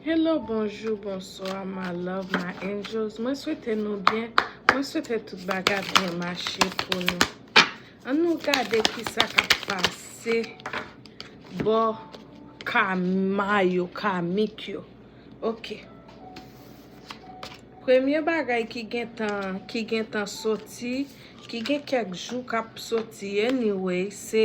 Hello bonjou bonswa ma love ma angels mwen swete nou byen mwen swete tout bagay byen mache pou nou an nou gade kisa kap pase bò kama yo kamik yo ok premye bagay ki gentan ki gentan soti ki gen kèk jou kap soti anyway se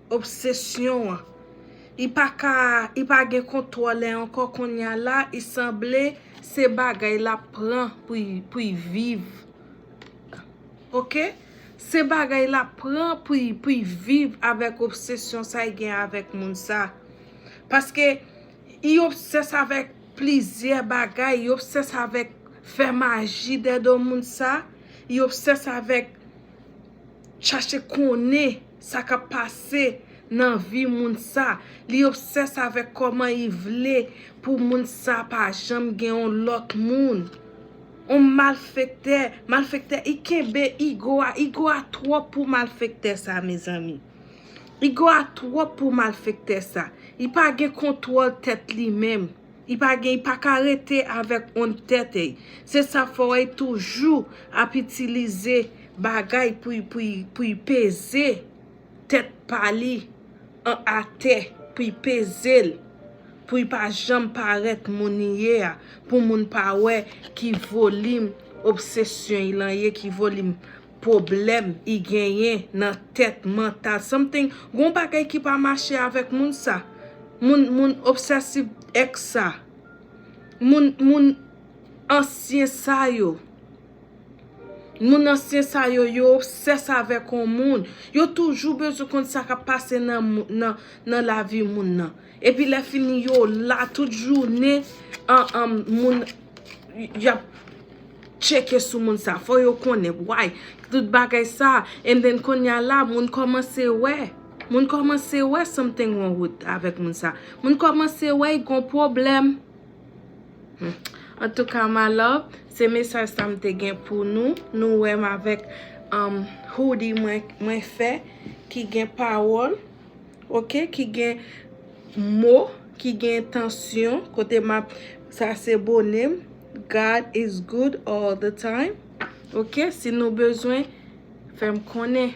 Obsesyon an. I pa ka, i pa gen kontwòl e ankò konnya la i sanble se bagay lap pran pou i viv. Ok. Se bagay lap pran pou i viv avèk obsesyon sa i gen avèk moun sa. Paske i obsès avèk plizyè bagay, i obsès avèk fè maji dèdo moun sa, i obsès avèk chache konnen sa kap pase nan vi moun sa, li obsès avèk kòman li vle pou moun sa pa janm gen yon lòt moun. On malfektè, malfektè i kenbe igo a, igo a twòp pou malfektè sa mezanmi. Igo a twòp pou malfektè sa, li pa gen kontwòl tèt li menm. I pa gen, i pa ka rete avèk on tèt ei. Se sa fè wè i toujou ap itilize bagay pou i, pou i, pou i peze tèt pa li an atè, pou i peze l, pou i pa janm parèt moun li ye a, pou moun pa wè ki volim obsesyon i lan ye, ki volim. pwoblèm I genyen nan tèt mantal something gon bagay ki pa mache avèk moun sa moun moun obsèsiv ex sa moun moun ansyen sa yo moun ansyen sa yo yo obsès avèk on moun yo toujou bezwen konn sa kap pase nan nan lavi moun nan Epi lè fini yo la tout jounen an moun yap tcheke sou moun sa fò yo konnen why tout bagay sa and then konnya la moun kòmanse wè moun kòmanse wè something wrong with avèk moun sa moun kòmanse wè y gon pwoblèm antouka my love se mesaj sa m te gen pou nou nou wè m avèk hoodie mwen fè ki gen pawòl Ok ki gen mo ki gen entansyon kote m ap sa se bone m God is good all the time ok si nou bezwen fè m konnen.